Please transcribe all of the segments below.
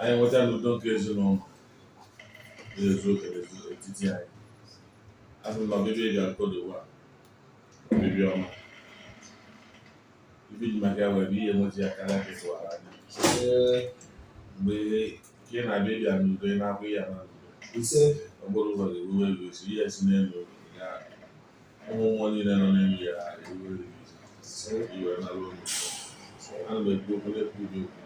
anyị nweta n'udo nke ezinụlọ na-ezu oke n'etiti anyị asị m na ọbịbịa ị ga-akọ n'ụwa ọbịbịa ọma ife i ji maka ya wee bịa nweta ya karịa ka ị tụwara anya mgbe ka ị na-abịa ị bịa n'udo ị naba ị naa n'udo ọ bụrụ ụzọ ga-eruwe eruo esi ihe si n'elu ụmụ mmụọ niile nọ n'elu ya eruere iwe nara olu ana m ekwu okwu na-ekwu ụdị okwu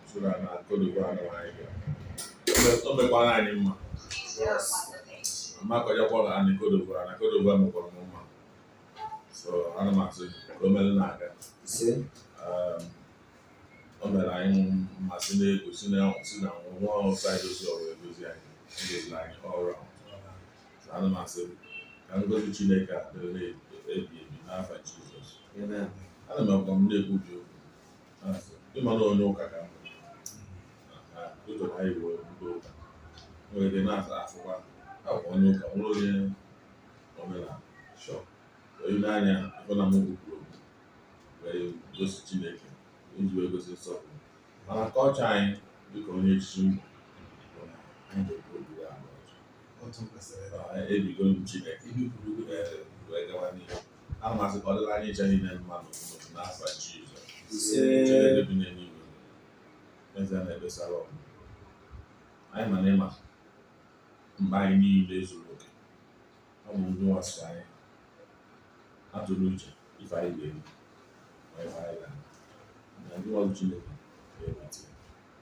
soro na kodogo anụ anyị ga o mekwara anyị mma amakọjakwa na anyị kodogo na kodogo mekwara m mma so ana m asị ka o mere na-aga o mere anyị mmasị na-egosi na si na nwa ọrụ saịdozi ọrụ edozi anyị edozi anyị ọrụ ahụ ana m asị ka ngozi Chineke a dịrị ebi ebi n'afa Jizọs ana m agwa m na-ekwu gị okwu ị ma na onye ụka ka m bụ ụjọ na iwe ndị ụka nwere ike na-asa asịkwa akwa onye ụka nwere onye omenala so onye n'anya ị fụ na mụ kwuru okwu wee gosi Chineke iji wee gosi nsọpụrụ mana culture anyị dịka onye echichi m bụ otu kwesịrị ebigo m Chineke wee gawa n'ihu ana m asị ka ọ dịlị anyị ncha niile mma n'ụtụtụ n'afa Jizọs Chineke bi n'eluigwe eze na-ebesara ọgụ anyị ma na ị ma mkpa anyị niile zuru oke ọ bụ ndị nwasị anyị atụrụ uche ife anyị ga-eme ma ife anyị ga-eme na ndị ọrụ Chineke ga-eweta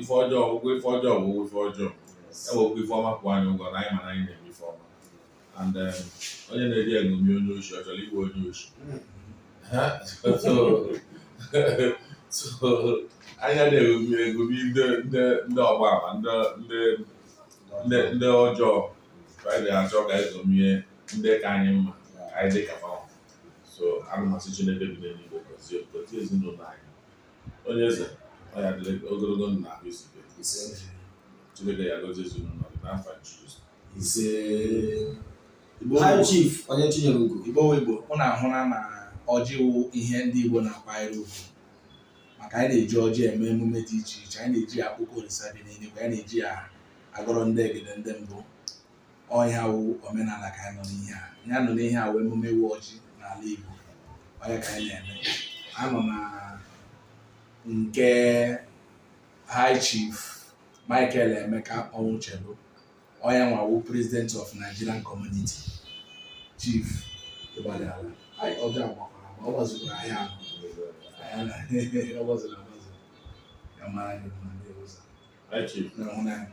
ife ọjọọ ụgwọ ife ọjọọ bụ ife ọjọọ ewekwa ife ọma kwụọ anyị ụgwọ na anyị ma na anyị na-eme ife ọma and then onye na-eji eṅomi onye oshi ọ chọrọ ịwụ onye oshi anyị anaghị eṅomi ndị ọgba ama ndị ọjọọ anyị na-achọ ka anyị ṅomie ndị ka anyị mma ka anyị dị ka so ana m asị Chineke bi n'eluigwe gọzie ezinụlọ anyị onye eze ọ ya dịrị gị ogologo ndụ na ahụ isi ike chineke ya gọzie ezinụlọ gị n'afa jizọs isee high chief onye chinyere ugo Igbo wụ Igbo ụnụ ahụna na ọjị wụ ihe ndị Igbo na-akwanyere ugwu maka anyị na-eji ọjị eme emume dị iche iche anyị na-eji ya akpọku olisa bi n'eluigwe anyị na-eji ya agọrọ ndị egede ndị mbụ ọ nya wụ omenala ka anyị nọ n'ihe a ihe a nọ n'ihe a wụ emume ịwa ọjị n'ala Igbo ọ nya ka anyị na-eme a nọ na nke High Chief Michael Emeka Ọnwụchelu ọ nyanwa wụ President of Nigerian Community Chief Igbadala anyị ọjị agbakwara ma ọ gbazuru ahịa ahụ ọ gbazuru agbazu ya mara gị mma ndị ụzọ High Chief na ọhụrụ anyị